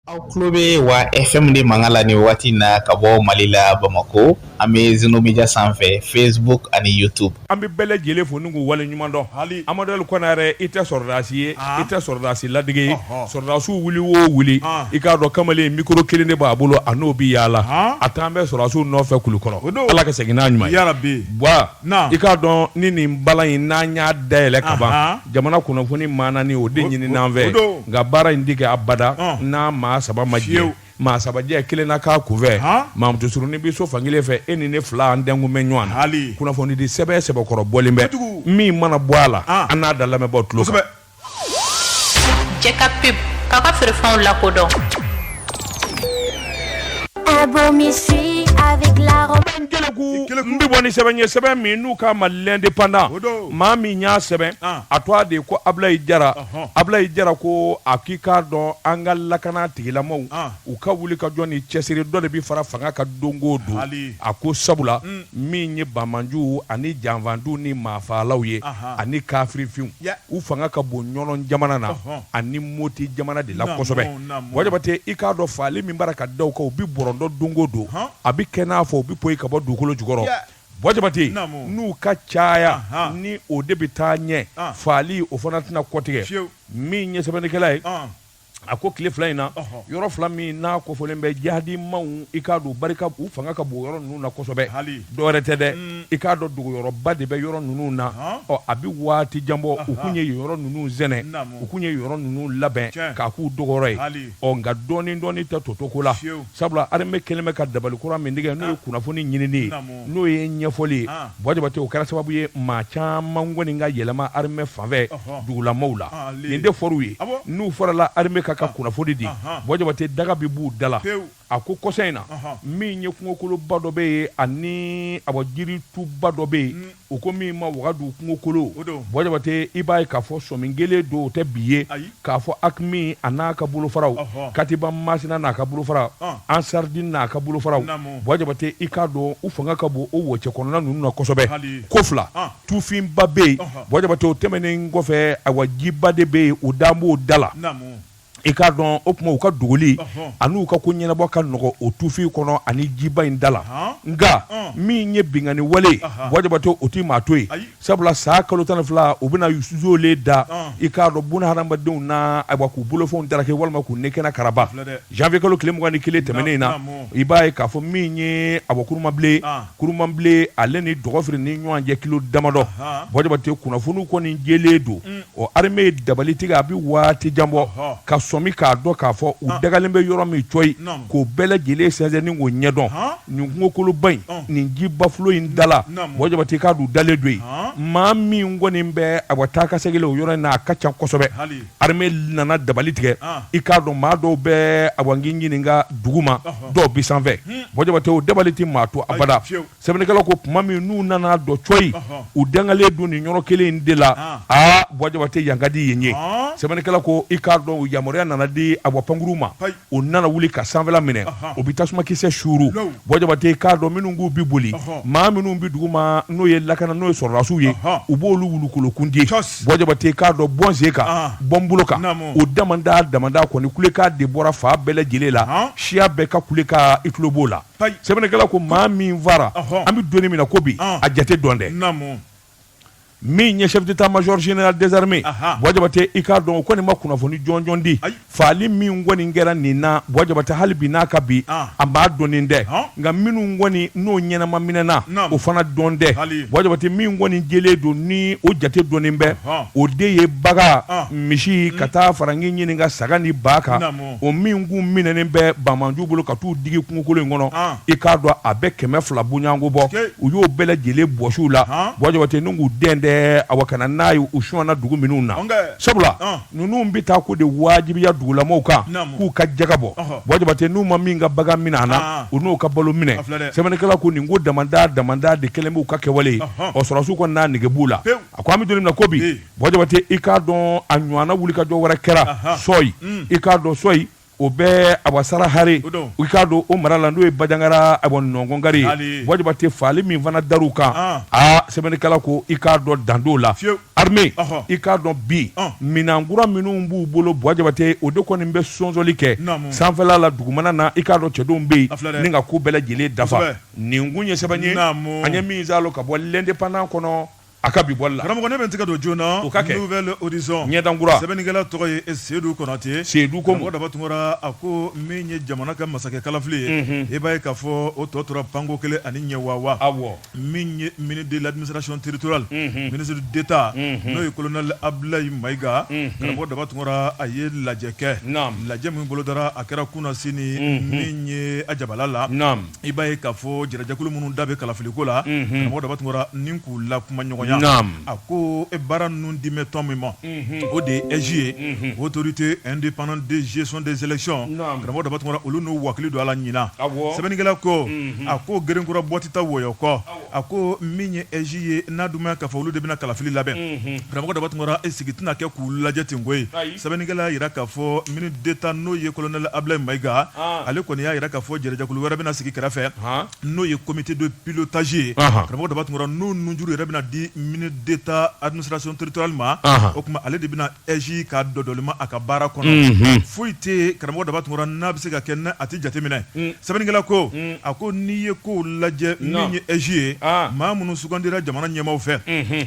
aw tulo bɛ wa fm de mankan la nin waati na ka bɔ mali la bamakɔ an bɛ zeno media sanfɛ facebook ani youtube an bɛ bɛɛ lajɛlen fo ni k'u wale ɲuman dɔn hali amaduli kɔnɛ yɛrɛ i tɛ sɔrɔdasi ye i tɛ sɔrɔdasi ladege sɔrɔdasiw wuli o wuli i k'a dɔn kamalen mikoro kelen de b'a bolo a n'o bɛ yaala a taalen bɛ sɔrɔdasiw nɔfɛ kulukɔrɔ ala ka segin n'a ɲuman ye yarabi wa i k'a dɔn ni nin bala in n'an y'a dayɛlɛ ka ban jamana kunnafoni maa nani o de ɲini an fɛ nka baara in ti kɛ abada n'a maa saba ma jɛ maa saba jɛ kelen na k'a kunfɛ mamutu surunin bɛ so fankelen fɛ e ni ne fila an dɛngun bɛ ɲɔgɔn na kunnafonidi sɛbɛn sɛbɛkɔrɔ bɔlen bɛ min mana bɔ a la an n'a da lamɛnbaw tulo Jɛ ka pub k'a ka feerefɛnw lakodɔn n bɛ bɔ ni sɛbɛn ye sɛbɛn min n'u k'a ma l'indépendant maa min y'a sɛbɛn ah. a tɔgɔ de ko ablayi jara ablayi jara ko a k'i k'a dɔn an ka lakana tigilamaw u ka wuli ka jɔ ni cɛsiri dɔ de bɛ fara fanga kan don o don a ko sabula mm. min ye banmanjuw ani janfantu ni maafalaw ye ani kafirifinw u fanga ka bon ɲɔnɔn jamana na ani moti jamana de la kosɛbɛ bɔ jabate i k'a dɔn faali min bara ka da u kan u bɛ bɔrɔndɔ don o don a bɛ kɛ n'a fɔ u bɛ poyi ka bɔ dugukolo jukɔrɔ bɔ jabate n'u ka caya ni o de bɛ taa ɲɛ faali o fana tɛna kɔtigɛ min ye sɛbɛnnikɛla ye a ko tile fila in na yɔrɔ fila min n'a kofɔlen bɛ jihadimaw i k'a don barika u fanga ka bon yɔrɔ ninnu na kosɛbɛ dɔwɛrɛ tɛ dɛ mm. i k'a dɔn dogoyɔrɔba de bɛ yɔrɔ ninnu na ɔ a bɛ waati jan bɔ u kun ye yɔrɔ ninnu sɛnɛ u kun ye yɔrɔ ninnu labɛn k'a k'u dogoyɔrɔ ye ɔ nka dɔɔni dɔɔni tɛ toto ko la sabula arame kɛlen bɛ ka dabali kura min tigɛ n'o ye kunnafoni ɲinini ye n'o ye ɲɛfɔli ye bɔ jabate o kɛra sababu ye maa caman kɔni ka yɛlɛma arame fanfɛ dugulamaw la nin de fɔw ye n'u farala arame kan ka kunnafoni di bɔ jabate daga bɛ b'u da la a ko kɔsa in na min ye kungokoloba dɔ bɛ yen ani a bɔ jirituba dɔ bɛ yen u ko min ma wagadu kungokolo bɔ jabate i b'a ye k'a fɔ sɔmi kɛlen don o tɛ bi ye k'a fɔ akimi an'a ka bolofaraw katiba masina n'a ka bolofaraw ansaridini n'a ka bolofaraw bɔ jabate i k'a dɔn u fanga ka bon o wo cɛ kɔnɔna ninnu na kosɛbɛ ko fila tufinba bɛ yen bɔ jabate o tɛmɛnen kɔfɛ awa jiba de bɛ yen o dan b'o da la i k'a dɔn o tuma u ka dogoli an'u ka ko ɲɛnabɔ ka nɔgɔ o tufin kɔnɔ ani jiba in da la nka min ye binkanni wale bɔ jabate o tɛ maa to yen Sabula san kalo tan fila u bɛna zole da i k'a dɔn bunahadamadenw na ayiwa k'u bolofɛnw darake walima k'u ni kɛnɛ karaba zanviye kalo tile mugan ni kelen tɛmɛnen in na i b'a ye k'a fɔ min ye a kurumabilen kurumabilen ale ni dɔgɔfiri ni ɲɔgɔn cɛ kilo damadɔ bɔ jabate kunnafoniw kɔni jɛlen don ɔ armée ye dabali tigɛ a bɛ waati jan bɔ ka sɔmi k'a dɔn k'a fɔ u dagalen bɛ yɔrɔ min cɔyi k'o bɛɛ lajɛlen sɛnsɛn ni k'o ɲɛdɔn nin kungokoloba in nin jibafulo in da la Bɔ Jabate i k'a dɔn u dalen don yen maa min kɔni bɛ a ka taakasegin la o yɔrɔ in na a ka ca kosɛbɛ armée nana dabali tigɛ i k'a dɔn maa dɔw bɛ awa n k'i ɲininka duguma dɔw bɛ sanfɛ Bɔ Jabate o dabali tɛ maa to abada. sɛbɛnnikɛlaw ko tuma min n'u nana dɔn coyi u dagalen don nin yɔrɔ kelen in de la ah. aa Bɔ Jabate yan ka di yen ye ah. sɛbɛnnikɛla ko i k'a dɔn o yamaruya nana di awa pankurun ma o nana wuli ka sanfɛla minɛ o bɛ tasumakisɛ suuru Bɔ Jabate k'a dɔn minnu k'u bɛ boli maa minnu bɛ dugu ma n'o ye lakana n'o ye sɔrɔdasiw ye u b'olu wulukolokundi Bɔ Jabate k'a dɔn bɔn sen kan ah. bɔn bolo kan o damanda damanda kɔni kulekan de bɔra fan bɛɛ lajɛlen la siya bɛɛ ka kulekan i tulo b'o la sɛbɛnnikɛla ko maa min faara an bɛ don min na ko bi a jate dɔnnen tɛ min ye chef d'état-major général des armées Bɔ Jabate i k'a dɔn o kɔni ma kunnafoni jɔnjɔn di faali min kɔni kɛra nin na Bɔ Jabate hali bi n'a ka bi a ma dɔn dɛ nka minnu kɔni n'o ɲɛnama minɛna o fana dɔnnen tɛ Bɔ Jabate min kɔni jɛlen don ni o jate dɔnnen bɛ o de ye bagan misi ka taa fara n k'i ɲininka saga ni ba kan o min kun minɛnen bɛ banbaanciw bolo ka t'u digi kungokolon in kɔnɔ i k'a dɔn a bɛ kɛmɛ fila bonyayanko bɔ u y'o bɛɛ lajɛlen bɔsi u la Bɔ Jabate ni k'u dɛndɛ awa ka na n'a ye u sonyana dugu minnu na sabula ninnu bɛ taa ko de wajibiya dugulamaw kan k'u ka jaka bɔ Bɔ Jabate n'u ma min ka bagan minɛ a na u n'u ka balo minɛ sɛbɛnnikɛla ko nin ko damanda damanda de kɛlen b'u ka kɛwale ye sɔrɔdasiw kɔni n'a nege b'u la a ko an bɛ don min na ko bi Bɔ Jabate i k'a dɔn a ɲɔgɔnna wulikajɔ wɛrɛ kɛra sɔyi i k'a dɔn sɔyi o bɛ awa Sara Hare i k'a dɔn o mara la n'o ye Banjagara a nɔnkɔnkari Bɔ Jabate faali min fana dar'u kan aa sɛbɛnnikɛla ko i k'a dɔn dan t'o la armée i k'a dɔn bi minɛnkura minnu b'u bolo Bɔ Jabate o de kɔni bɛ sɔnsɔli kɛ sanfɛla la dugumana na i k'a dɔn cɛdenw bɛ yen ni ka ko bɛɛ lajɛlen dafa nin kun ye sɛbɛn ye an ye min saalo ka bɔ L'Indépendant kɔnɔ A ka bi bɔli la karamɔgɔ ne bɛ n tɛgɛ don joona o ka kɛ Nouvel Horizon ɲɛdankura sɛbɛnnikɛla tɔgɔ ye Sedu Konate Sedu ko mɔgɔ Daba Tunkara a ko min ye jamana ka masakɛ kalafili ye unhun i b'a ye k'a fɔ o tɔ tora pan ko kelen ani ɲɛ wawa awɔ min ye ministre de l'administration territoriale unhun ministre d'Etat unhun n'o ye colonel Abudulayi Mayiga unhun karamɔgɔ Daba Tunkara a ye lajɛ kɛ naam lajɛ min bolodara a kɛra kunasini unhun min ye a jabala la naam i b'a ye k'a fɔ jɛrɛjɛkulu minnu da bɛ kalafiliko la karamɔgɔ Daba Tunkara ni k'u lakumaɲɔgɔnya a ko e baara ninnu dilen bɛ tɔn min ma o de ye AIGE ye autorité indépendante de gestion des élections karamɔgɔ Daba Tunkara olu n'u wa hakili don a la ɲinan sɛbɛnnikɛla ko a ko gerenkura bɔ tɛ taa wɔyɔ kɔ a ko min ye aige ye n'a d'u ma k'a fɔ olu de bɛna kalafili labɛn karamɔgɔ daba tunkara sigi tɛna kɛ k'u lajɛ ten koyi sɛbɛnnikɛla y'a jira k'a fɔ ministre d'état n'o ye colonel abdoulaye maïga ale kɔni y'a jira k'a fɔ jɛrɛjɛkulu wɛrɛ bɛna sigi kɛrɛfɛ n'o ye comité de pilotage ye karamɔgɔ daba tunkara n'o nunjuru yɛrɛ bɛna di ministre d'état administration territoriale ma o tuma ale de bɛna aige ka dɔdɔlima a ka baara kɔnɔ foyi tɛ karamɔgɔ daba tunkara n'a bɛ se ka kɛ n'a tɛ jateminɛ sɛbɛnnikɛla ko a ko n'i ye kow lajɛ min ye aige ye maa minnu sugandira jamana ɲɛmaw fɛ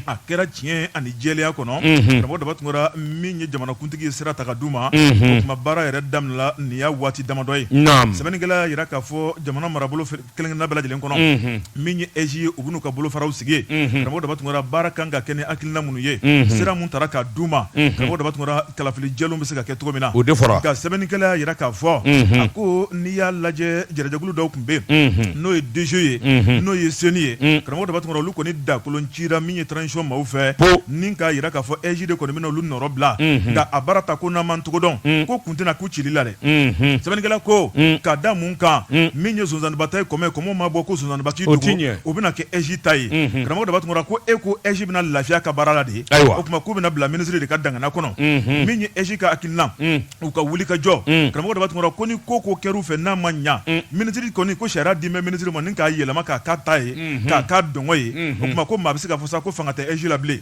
a kɛra tiɲɛ ani jɛlenya kɔnɔ karamɔgɔ daba tunkara min ye jamanakuntigi ye sira ta ka d'u ma o tuma baara yɛrɛ daminɛla nin y'a waati damadɔ ye sɛbɛnnikɛla y'a jira k'a fɔ jamana marabolo fɛ kelen-kelenna bɛɛ lajɛlen kɔnɔ min ye aige ye u bɛn'u ka bolofaraw sigi karamɔgɔ daba tunkara baara kan ka kɛ ni hakilina minnu ye sira min tara ka d'u ma karamɔgɔ daba tunkara kalafili jɛlenw bɛ se ka kɛ cogo min na o de fɔra nka sɛbɛnnikɛla y'a jira k'a fɔ a ko n'i y'a lajɛ jɛrɛjɛkulu dɔw tun bɛ yen n'o ye dge ye n'o ye ceni ye karamɔgɔ daba tunkara olu kɔni dakolon cira min ye transition maaw fɛ ni k'a jira k'a fɔ aige de kɔni bɛna olu nɔrɔ bila nka a baara ta ko n'an m'a cogo dɔn ko kun tɛna k'u cili la dɛ sɛbɛnnikɛla ko ka da mun kan min ye sonsanninba ta ye kɔmɔ kɔmɔ ma bɔ ko sonsanninba k'i dogo o bɛna kɛ aige ta ye karamɔgɔ daba tunkara ko e ko aige bɛna lafiya ka baara la de ye o tuma k'u bɛna bila minisiri de ka dangana kɔnɔ min ye aige ka hakilina u ka wuli ka jɔ karamɔgɔ daba tunkara ko ni ko o ko kɛr'u fɛ n'a ma ɲɛ minisiri kɔni ko sariya dilen bɛ minisiri ma k'a yɛlɛma k'a k'a ta ye k'a k'a dungɔ ye o tuma ko maa bɛ se k'a fɔ sa ko fanga tɛ aige la bilen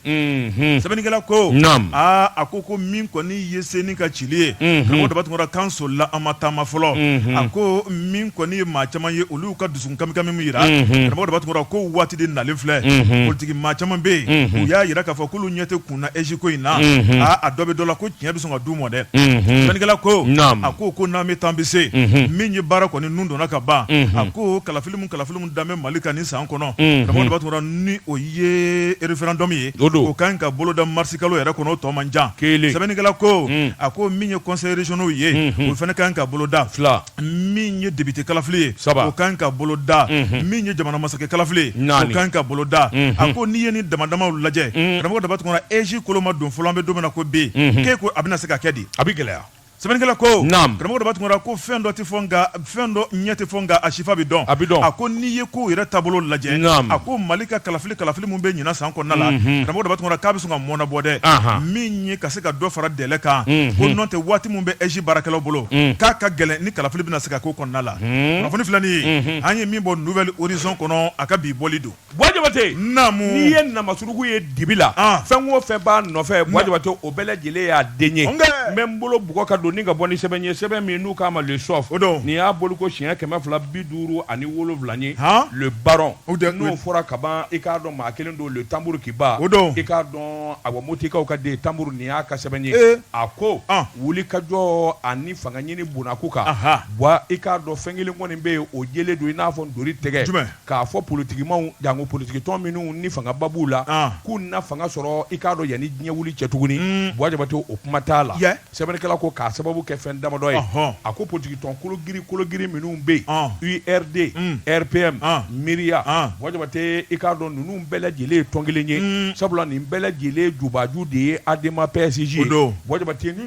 sɛbɛnnikɛla ko a ko ko min kɔni i ye ceni ka cili ye karamɔgɔ daba tunkara k'an solila an ma taama fɔlɔ a ko min kɔni ye maa caman ye olu ka dusukun kamikami min jira karamɔgɔ daba tunkara ko waati de nalen filɛ politiki maa caman bɛ yen u y'a jira k'a fɔ k'olu ɲɛ tɛ kun na aige ko in na aa a dɔ bɛ dɔ la ko tiɲɛ bɛ sɔn ka d'u ma dɛ sɛbɛnnikɛla ko a ko ko n'an bɛ taa an bɛ se min ye baara kɔni nun donna ka ban a ko kalafili kalifafimu danbe mali ka ni san kɔnɔ karamɔgɔ daba tunkara ni o ye référendum ye o ka kan ka boloda mari si kalo yɛrɛ kɔnɔ o tɔ man jan kelen sɛbɛnnikɛla ko mm. a ko min ye conseil régionaux ye mm-hmm. o fana ka kan ka boloda fila min ye député kalafili ye saba o ka kan ka boloda mm-hmm. min ye jamana masakɛ kalafili ye o ka kan ka boloda mm-hmm. a ko n'i ye nin damadamaw lajɛ mm. karamɔgɔ daba tunkara aige kolo ma don fɔlɔ an bɛ don min na ko bi k'e ko a bɛna se ka kɛ di a bɛ gɛlɛya sɛbɛnnikɛla ko naam karamɔgɔ daba tunkara ko fɛn dɔ tɛ fɔ nka fɛn dɔ ɲɛ tɛ fɔ nka a sifa bɛ dɔn a bɛ dɔn a ko n'i ye ko yɛrɛ taabolo lajɛ naam a ko mali ka kalafili kalafili min bɛ ɲinan san kɔnɔna la mhm. karamɔgɔ daba tunkara k'a bɛ sɔn ka mɔɔnɔbɔ dɛ min ye ka se ka dɔ fara délai kan mhm. ko n'o tɛ waati min bɛ aige baarakɛlaw bolo mhm. k'a ka gɛlɛn ni kalafili bɛna se ka k'o kɔnɔna la kunnafoni filɛ nin ye an ye min bɔ nouvel horizon kɔnɔ a ka bi bɔli don Bua jabate n'i ye nama suruku ye dibi la fɛn o fɛn b'a nɔfɛ bua jabate o bɛɛ lajɛlen y'a den ye n bɛ n bolo bugɔ ka don ni ka bɔ ni sɛbɛn ye sɛbɛn min n'u k'a ma le soft nin y'a bɔli ko siɲɛ kɛmɛ fila bi duuru ani wolonwula ye le baron n'o fɔra ka ban i k'a dɔn maa kelen don le tambour qui bat i k'a dɔn awɔ motikaw ka den tambour nin y'a ka sɛbɛn ye a ko wuli ka jɔ ani fanga ɲini bonaku kan bua i k'a dɔn fɛn kelen kɔni bɛ yen o jɛlen don i n'a fɔ ntori tɛgɛ K'a fɔ politigimaw janko politigitɔn minnu ni fangaba b'u la k'u na fanga sɔrɔ i k'a dɔn yanni diɲɛ wili cɛ tuguni bua jabate o kuma t'a la sɛbɛnnikɛla ko k'a sababu kɛ fɛn damadɔ ye a ko politigitɔn kologirin kologirin minnu bɛ yen URD RPM MIRIA bua jabate i k'a dɔn ninnu bɛɛ lajɛlen ye tɔn kelen ye sabula nin bɛɛ lajɛlen jubaju de ye ADEMA PASJ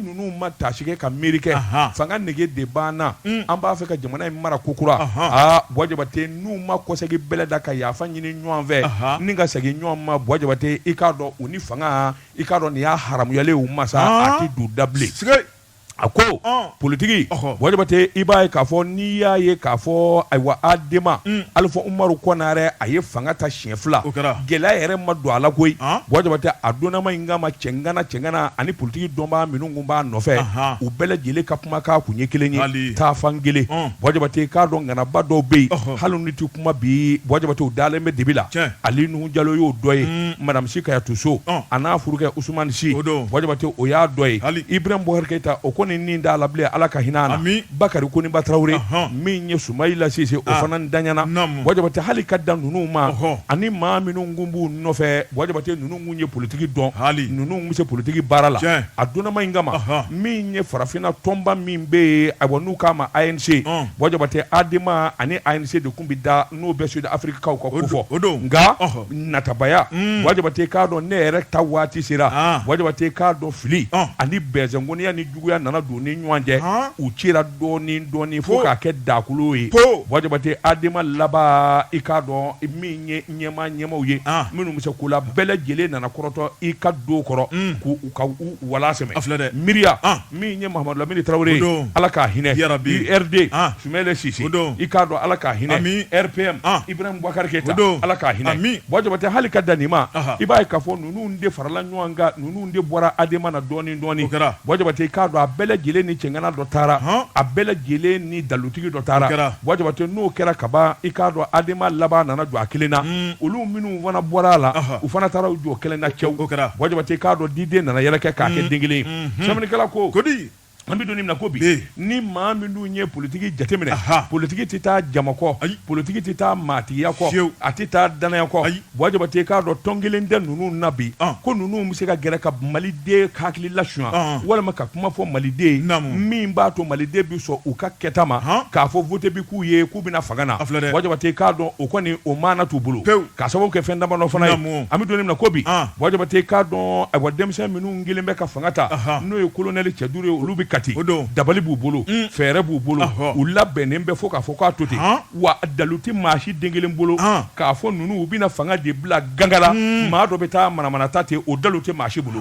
ninnu ma taasi kɛ ka miiri kɛ fanga nege de b'an na an b'a fɛ ka jamana in mara kokura bua jabate n'u ma kɔsegin bɛlɛ da ka yafa ɲini ɲɔgɔn fɛ ni ka segin ɲɔgɔn ma bua jabate i k'a dɔn u ni fanga i k'a dɔn nin y'a haramuyalen u ma sa a tɛ du da bilen a ko politigi bua jabate i b'a ye k'a fɔ n'i y'a ye k'a fɔ ayiwa ADEMA alifa umaru konare a ye fanga ta siɲɛ fila gɛlɛya yɛrɛ ma don a la koyi bua jabate a donnama in kama cɛŋana cɛŋana ani politigi dɔnbaa minnu kun b'a nɔfɛ u bɛɛ lajɛlen ka kumakan kun ye kelen ye taafan kelen bua jabate k'a dɔn ŋanaba dɔw bɛ yen hali n'u tɛ kuma bi bua jabate u dalen bɛ dibi la ali nuhu jalo y'o dɔ ye madamu si kajatu so a n'a furukɛ usumani si bua jabate o y'a dɔ ye ibrahim bubakari keyita o kɔni nin t'a la bilen ala ka hinɛ bakari koniba tarawele min ye sumayila sise o fana dayana bua jabate hali ka dan ninnu ma ani maa minnu kun b'u nɔfɛ bua jabate ninnu kun ye politigi dɔn ninnu bɛ se politigi baara la a donnama in kama min ye farafinna tɔnba min bɛ yen ayiwa n'u k'a ma ANC bua jabate ADEMA ani ANC de kun bɛ da n'o bɛ sud afirikikaw ka ko fɔ nka natabaya mm. bua jabate k'a dɔn ne yɛrɛ ta waati sera ah. bua jabate k'a dɔn fili ani bɛnsɛngoniya juguya nana don ni ɲɔgɔn cɛ u cira dɔɔnin dɔɔnin fo k'a kɛ dakolo ye bua jabate ADEMA laban i k'a dɔn min ye ɲɛmaa ɲɛmaaw ye minnu bɛ se ko la bɛɛ lajɛlen nana kɔrɔtɔ i k'a dɔn kɔrɔ k'u ka wala sɛmɛ MIRIA min ye mamadu lamini tarawele ala ka hinɛ URD sumayila sise i k'a dɔn ala ka hinɛ RPM ibrahim bubakari keyita ala ka hinɛ bua jabate hali ka dan nin ma i b'a ye k'a fɔ ninnu de farala ɲɔgɔn kan ninnu de bɔra ADEMA na dɔɔnin dɔɔnin bua jabate i k'a dɔn a bɛɛ lajɛlen ni cɛŋana dɔ taara a bɛɛ lajɛlen ni dalutigi dɔ taara bua jabate n'o kɛra kaban i k'a dɔn ADEMA laban nana jɔ a kelen na olu minnu fana bɔra a la u fana taara u jɔ kelen na cɛw bua jabate i k'a dɔn diden nana yɛrɛkɛ k'a kɛ den kelen sɛbɛnnikɛla ko kodi An bɛ don min na ko bi ni maa minnu ye politigi jateminɛ politigi tɛ taa jama kɔ ayi politigi tɛ taa maatigiya kɔ fiyewu a tɛ taa danaya kɔ ayi Buwa Jabate i k'a dɔn tɔn kelen tɛ ninnu na bi ko ninnu bɛ se ka gɛrɛ ka Maliden hakili lasuɲɛ walima ka kuma fɔ Maliden ye naamu min b'a to Maliden bɛ sɔn u ka kɛta ma k'a fɔ vote bɛ k'u ye k'u bɛ na fanga na a filɛ dɛ Buwa Jabate i k'a dɔn o kɔni o maana t'u bolo pewu k'a sababu kɛ fɛn damadɔ fana ye naamu an bɛ don min na ko bi Buwa Jabate i k'a dɔn ayiwa denmisɛn minnu kɛlen bɛ ka fanga ta n'o ye kolonɛli cɛ duuru ye olu bɛ Kati dabali b'u bolo mm. fɛɛrɛ b'u bolo u labɛnnen bɛ fo k'a fɔ k'a to ten wa dalu tɛ maa si den kelen bolo k'a fɔ ninnu u bɛna fanga de bila gangala mm. maa dɔ bɛ taa manamana ta ten o dalu tɛ maa si bolo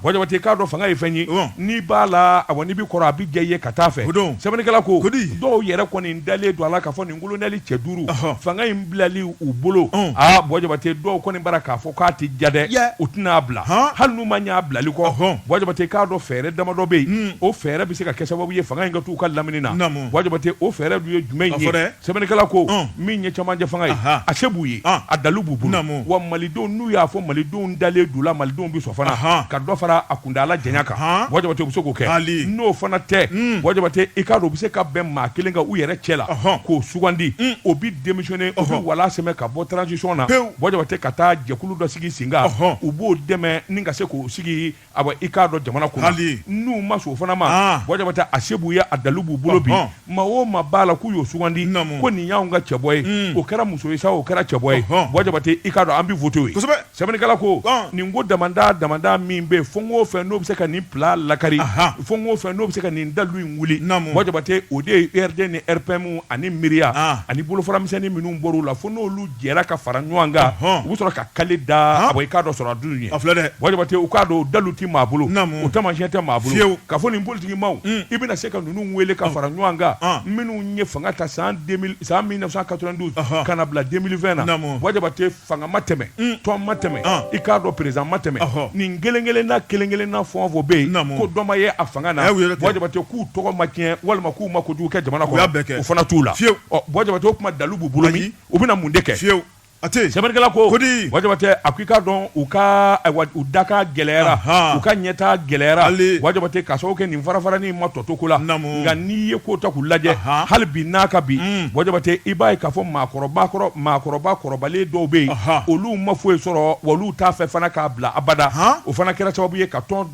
Buwa Jabate k'a dɔn fanga ye fɛn ye n'i b'a la awa n'i bɛ kɔrɔ a bɛ diya i ye ka taa fɛ sɛbɛnnikɛla ko dɔw yɛrɛ kɔni dalen don a la k'a fɔ kolonɛli cɛ duuru fanga in bilali u bolo aa Buwa Jabate dɔw kɔni b'a ra k'a fɔ k'a tɛ diya dɛ u tɛn'a bila hali n'u ma y'a bilali kɔ Buwa Jabate k'a dɔn fɛɛrɛ damadɔ bɛ yen o fɛɛrɛ bɛ se ka kɛ sababu ye fanga in ka to u ka lamini na Buwa Jabate o fɛɛrɛ dun ye jumɛn ye sɛbɛnnikɛla ko min ye camancɛ fanga ye a se b'u ye a dalu b'u bolo wa malidenw n'u y'a fɔ malidenw dalen d'u la malidenw bɛ sɔn fana ka dɔ fara a kundala janya kan Ɔnhɔn. Buwa Jabate u bɛ se k'o kɛ Ali. n'o fana tɛ Buwa Jabate i k'a dɔn u bɛ se ka bɛn maa kelen kan u yɛrɛ cɛ la Ɔnhɔn. k'o sugandi o bɛ démissionner o bɛ Ɔnhɔn. wala sɛmɛ ka bɔ transition na Pewu. Buwa Jabate ka taa jɛkulu dɔ sigi sen kan Ɔnhɔn. u b'o dɛmɛ nin ka se k'o sigi awa i k'a dɔn jamana kunna Ali. n'u ma sɔn o fana ma Ah. Buwa Jabate a se b'u ye a dalu b'u bolo bi Ɔnhɔn. Maa o maa b'a la k'u y'o sugandi ko nin y'anw ka cɛbɔ ye o kɛra muso ye sa o kɛra cɛbɔ ye Buwa Jabate i k'a dɔn an bɛ vote ye sɛbɛnnikɛla ko nin ko damanda damanda min bɛ fɛn o fɛn n'o bɛ se ka nin plan lakari fɛn o fɛn n'o bɛ se ka nin dalu in wuli Buwa Jabate o de ye URD ni RPM ani MIRIA ani bolofara misɛnnin minnu bɔr'u la fo n'olu jɛra ka fara ɲɔgɔn kan u bɛ sɔrɔ ka kali da i k'a dɔn sɔrɔ a dun ye Buwa Jabate i k'a dɔn dalu tɛ maa bolo o taamasiyɛn tɛ maa bolo k'a fɔ nin politigi maaw i bɛna se ka ninnu wele ka fara ɲɔgɔn kan minnu ye fanga ta san mille neuf cent quatre-vingt-douze ka na bila deux mille vingt na Buwa Jabate fanga ma tɛmɛ tɔn ma tɛmɛ i k'a dɔn président ma tɛmɛ nin kelen kelen na kelen kelen na fɛn o fɛn bɛ yen ko dɔ ma ye a fanga na k'u tɔgɔ ma tiɲɛ walima k'u ma kojugu kɛ jamana kɔnɔ o fana t'u la fiyewu o kuma dalu b'u bolo u bɛna mun de kɛ fiyewu a tɛ sɛbɛnnikɛla ko Buwa Jabate a ko i k'a dɔn u ka u daka gɛlɛyara u ka ɲɛta gɛlɛyara Buwa Jabate k'a sababu kɛ nin farafarani ma tɔ to ko la nka n'i ye ko ta k'u lajɛ hali bi n'a ka bi Buwa Jabate i b'a ye k'a fɔ maakɔrɔba kɔrɔbalen dɔw bɛ yen olu ma foyi sɔrɔ wa olu t'a fɛ fana k'a bila abada o fana kɛra sababu ye ka tɔn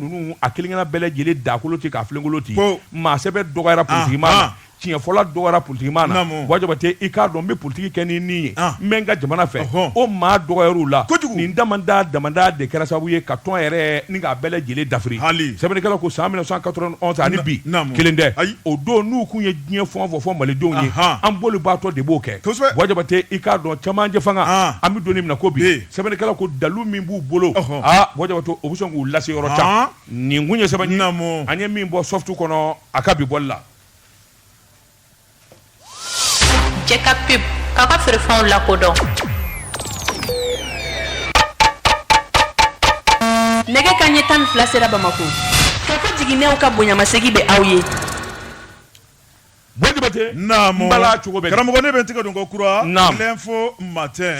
ninnu a kelen kelenna bɛɛ lajɛlen dakolon ten k'a filenkolon ten maa sɛbɛ dɔgɔyara politigi ma tiɲɛfɔla dɔgɔyara politikimaa na Naamu. Bwa Jabate i k'a dɔn n bɛ politiki kɛ ni nin ye Ah. n bɛ n ka jamana fɛ Ɔhɔn. o maa dɔgɔyar'u la Kojugu. nin damanda damanda de kɛra sababu ye ka tɔn yɛrɛ ni k'a bɛɛ lajɛlen dafiri Hali. sɛbɛnnikɛla ko san 1991 ani Na- bi naamu. kelen tɛ Ayi. o don n'u kun ye diɲɛ fɛn o fɛn fɔ malidenw ye Ahan. an b'olu baatɔ de b'o kɛ Kosɛbɛ. Bwa Jabate i k'a dɔn camancɛ fanga Ah. an bɛ don min na ko bi Bi. sɛbɛnnikɛla ko dalu min b'u bolo Ɔhɔn. aa Bwa Jabate o bɛ sɔn k'u lase yɔrɔ Ah. jan nin kun ye sɛbɛn ye Naamu. an ye min bɔ Soft kɔnɔ a ka bi bɔli la Jɛka pub aw ka feerefɛnw lakodɔn nɛgɛ kanɲɛ tan fila sera bamakɔ Kafo Jiginɛw ka bonyamasegin bɛ aw ye cogo karamɔgɔ ne bɛ tɛgɛ don ko kura fo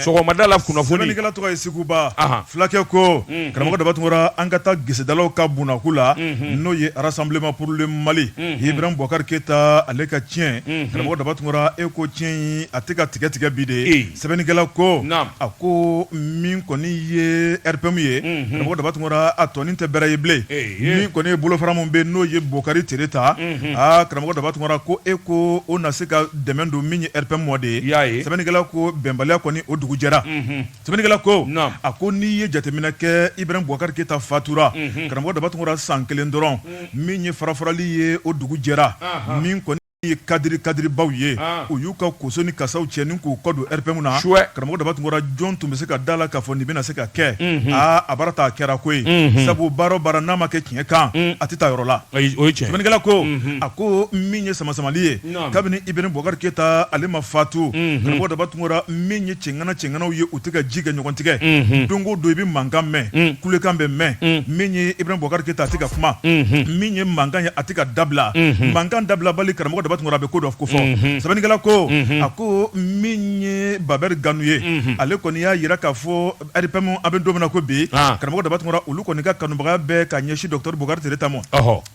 sɔgɔmadala kunnafoni sɛbɛnnikɛla tɔgɔ ye seguba fulakɛ ko karamɔgɔ Daba Tunkara an ka taa gesedala ka bonyaku la n'o ye Rassemblement pour le Mali Ibrahim Bubakari Keyita ale ka tiɲɛ karamɔgɔ Daba Tunkara e ko tiɲɛn a tɛ ka tigɛ tigɛ bi de ye sɛbɛnnikɛla ko a ko min kɔni ye RPM ye karamɔgɔ Daba Tunkara a tɔnin tɛ bɛrɛ ye bilen min kɔni ye bolofara min bɛ n'o ye Bokari Tereta aa karamɔgɔ Daba Tunkara ko e ko o na se ka dɛmɛ don min ye RPM ma de ye sɛbɛnnikɛla ko bɛnbaliya kɔni o dugu jɛra sɛbɛnnikɛla ko a ko n'i ye jateminɛ kɛ Ibrahim Bubakari Keyita fatura karamɔgɔ Daba Tunkara san kelen dɔrɔn min ye farafarali ye o dugu jɛra min kɔni ye kadiri kadiribaw ye u y'u ka koso ni kasaw cɛ ni k'u kɔ don RPM na karamɔgɔ Daba Tunkara jɔn tun bɛ se ka da la k'a fɔ nin bɛna se ka kɛ aa a baara ta a kɛra koyi sabu baara o baara n'a ma kɛ tiɲɛ kan a tɛ taa yɔrɔ la sɛbɛnnikɛla ko a ko min ye samasamali ye kabini Ibrahim Bubakari Keyita ale ma fatu karamɔgɔ Daba Tunkara min ye cɛŋana cɛŋanaw ye u tɛ ka ji kɛ ɲɔgɔn tigɛ don o don i bɛ mankan mɛn kulekan bɛ mɛn min ye Ibrahim Bubakari Keyita a tɛ ka kuma min ye mankan ye a tɛ ka dabila mankan dabilabali karamɔgɔ Daba Tunkara a bɛ ko dɔ kofɔ sɛbɛnnikɛla ko a ko min ye Babɛri Gano ye ale kɔni y'a yira k'a fɔ RPM an bɛ don min na ko bi karamɔgɔ Daba Tunkara olu kɔni ka kanubaga bɛɛ ka ɲɛsin docteur Bokari Tereta ma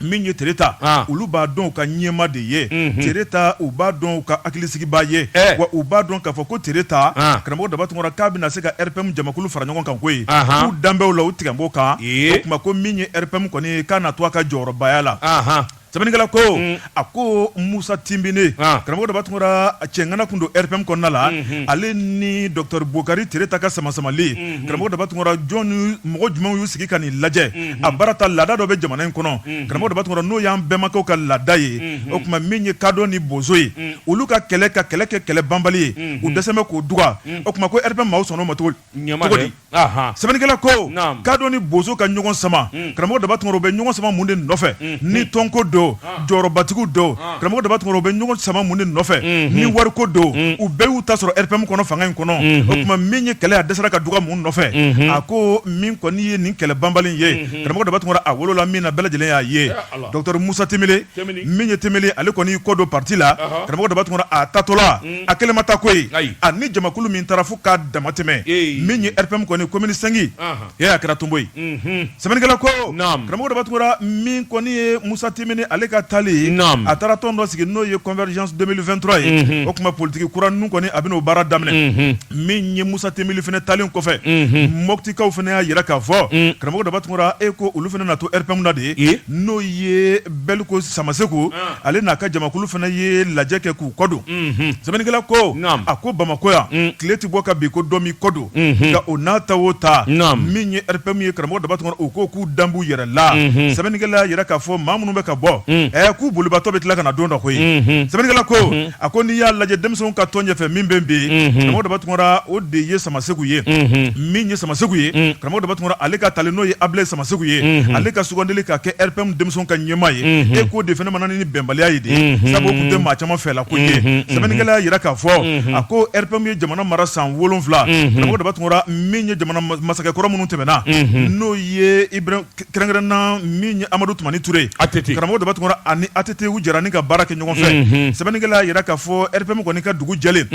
min ye Tereta olu b'a dɔn u ka ɲɛmaa de ye Tereta u b'a dɔn u ka hakilisigibaa ye wa u b'a dɔn k'a fɔ ko Tereta karamɔgɔ Daba Tunkara k'a bɛna se ka RPM jamakulu fara ɲɔgɔn kan koyi k'u danbew la u tigɛ bɔ kan o tuma ko min ye RPM kɔni ye k'a na to a ka jɔyɔrɔbaya la Sɛbɛnnikɛla ko a ko Musa Tinbine karamɔgɔ Daba Tunkara cɛŋana kun don RPM kɔnɔna la ale ni docteur Bokari Tereta ka samasamali karamɔgɔ Daba Tunkara jɔn ni mɔgɔ jumɛnw y'u sigi ka nin lajɛ a baara ta laada dɔ bɛ jamana in kɔnɔ karamɔgɔ Daba Tunkara n'o y'an bɛnbakɛw ka laada ye o tuma min ye kadɔ ni bozo ye olu ka kɛlɛ ka kɛlɛ kɛ kɛlɛ banbali ye u dɛsɛlen bɛ k'o duga o tuma ko RPM maaw sɔnn'o ma cogo di sɛbɛnnikɛla ko kado ni bozo ka ɲɔgɔn sama hmm. karamɔgɔ daba tunkara u bɛ ɲɔgɔn sama mun de nɔfɛ hmm. ni hmm. tɔnko don jɔyɔrɔbatigiw don karamɔgɔ daba tunkara u bɛ ɲɔgɔn sama mun de nɔfɛ ni wariko don u bɛɛ y'u ta sɔrɔ rpm kɔnɔ fanga in kɔnɔ o tuma min ye kɛlɛ ye a dɛsɛra ka duga mun nɔfɛ a ko min kɔni ye nin kɛlɛ banbali ye karamɔgɔ daba tunkara a wolola min na bɛɛ lajɛlen y'a ye docteur musa tinbine min ye tinbine ye ale kɔni y'i kɔ don pati la karamɔgɔ daba tunkara a taatɔla a kelen ma taa koyi a ni jamakulu min taara fo k'a damatɛmɛ min ye rpm kɔni commune cinq ye a kɛra tonbo ye sɛbɛnnikɛla ko karamɔgɔ daba tunkara min kɔni ye musa tinbine ye ale ka taali a taara tɔn dɔ sigi n'o ye convergence 2023 ye o tuma politigi kura ninnu kɔni a bɛna o baara daminɛ min ye musa tinbine fana taali kɔfɛ mɔtikaw fana y'a yira k'a fɔ karamɔgɔ daba tunkara e ko olu fana na to rpm na de ye n'o ye bɛliko samaseku ale n'a ka jamakulu fana ye lajɛ kɛ k'u kɔ don sɛbɛnnikɛla ko a ko bamakɔ yan tile tɛ bɔ ka bin ko dɔ m'i kɔ don nka o n'a ta o ta min ye rpm ye karamɔgɔ daba tunkara u ko k'u dan b'u yɛrɛ la sɛbɛnnikɛla y'a yira k'a fɔ maa minnu bɛ ka bɔ ɛ k'u bolibatɔ bɛ tila ka na don dɔ koyi sɛbɛnnikɛla ko a ko n'i y'a lajɛ denmisɛnw ka tɔn ɲɛfɛ min bɛ bi karamɔgɔ daba tunkara o de ye samaseku ye min ye samaseku ye karamɔgɔ daba tunkara ale ka tali n'o ye abilaye samaseku ye ale ka sugandili ka kɛ rpm denmisɛnw ka ɲɛmaa ye e k'o de fana nana ni bɛnbaliya ye de sabu o tun tɛ maa caman fɛla ko ye sɛbɛnnikɛla y'a yira k'a fɔ a ko rpm ye jamana mara san wolonwula karamɔgɔ daba tunkara min ye jamana masakɛ kɔrɔ minnu tɛmɛna n'o ye Kɛrɛnkɛrɛn na min ye amadu tumani ture karamɔgɔ daba tunkara ani att u jɛra ni ka baara kɛ ɲɔgɔn fɛ sɛbɛnnikɛla y'a yira k'a fɔ rpm kɔni ka dugu jɛlen